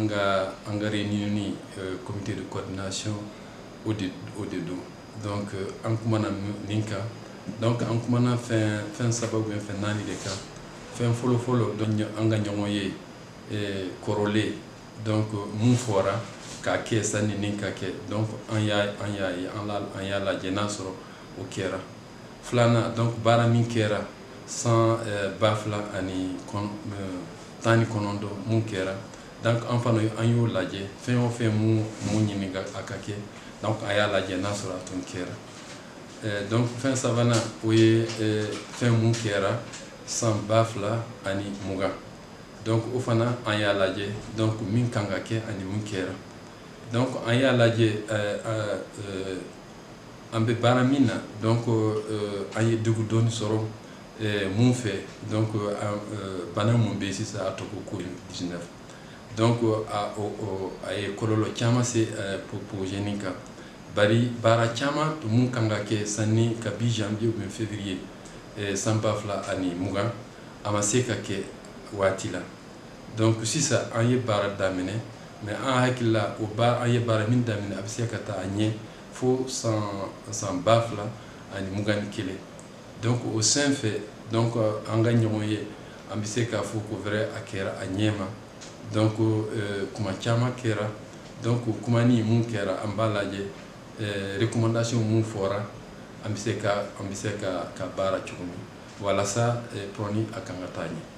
nga an ka réunion euh, comité de coordination o de o de don donc euh, an kumana nin kan donc an kumana fɛn fɛn saba ou bien fɛn naani de kan fɛn fɔlɔ fɔlɔ donc an ka ɲɔgɔn ye euh, kɔrɔlen donc mun fɔra k'a kɛ sanni nin ka kɛ donc an y'a an y'a ye an la an y'a lajɛ n'a sɔrɔ o kɛra filanan donc baara min kɛra san eh, ba fila ani eh, tan ni kɔnɔntɔn mun kɛra donc an fana an y'o lajɛ fɛn o fɛn mun mun ɲini a ka kɛ donc an y'a lajɛ n'a sɔrɔ a tun kɛra eh, donc fɛn sabanan o ye fɛn mun kɛra san ba fila ani mugan donc o fana an y'a lajɛ donc min kan ka kɛ ani min kɛra donc an y'a lajɛ an bɛ baara min na donc euh, an ye degun dɔɔni sɔrɔ euh, mun fɛ donc euh, bana mun bɛ sisan a tɔgɔ Covid 19 donc a a ye kɔlɔlɔ caman se projet nin kan bari baara caman mun kan ka kɛ sanni kabi janvier ou février san ba fila ani mugan a ma se ka kɛ waati la donc sisan an ye baara daminɛ mais an hakili la o ba an ye baara min daminɛ a bɛ se ka taa a ɲɛ fo san san ba fila ani mugan ni kelen donc o sen fɛ donc an ka ɲɔgɔn ye an bɛ se k'a fɔ ko vrai a kɛra a ɲɛ ma donc euh, kuma caman kɛra donc kuma ni mun kɛra an b'a lajɛ euh, recommandation mun fɔra an bɛ se ka an bɛ se ka ka baara cogo min walasa euh, projet nin a kan ka taa ɲɛ